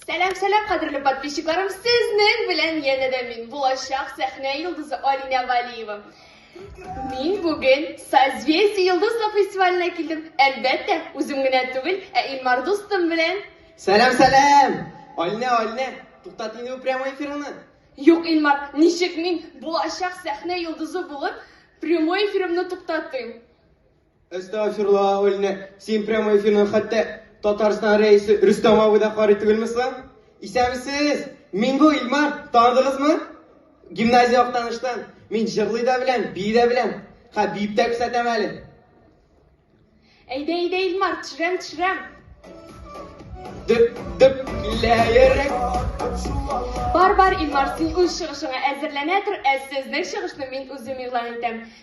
Сәлам, сәлам, кадерле подписчикларым! Сезнең белән янә дә мин, булачак сәхнә йолдызы Алинә Валиева. Мин бүген Созвездие йолдызлы фестиваленә килдем. Әлбәттә, үзем генә түгел, ә Илмар дустым белән. Сәлам, сәлам! Алинә, Алинә, туктат инде бу прямой эфирыңны. Юк, Илмар, ничек мин булачак сәхнә йолдызы булып прямой эфирымны туктатыйм? Әстәгъфирла, Алинә, син прямой эфирны хәтта Татарстан рәисе Рөстәм абый да карый түгелме соң? Исәнмесез! Мин бу Илмар, таныдыгызмы? Гимназия яктаныштан. Мин җырлый да беләм, бии дә беләм. Ха, биеп тә күрсәтәм әле. Әйдә, әйдә, Илмар, төшерәм, төшерәм. Дөп, дөп, килә йөрәк. Бар, бар, Илмар, син үз чыгышыңа әзерләнә тор, ә сезнең чыгышны мин үзем игълан итәм.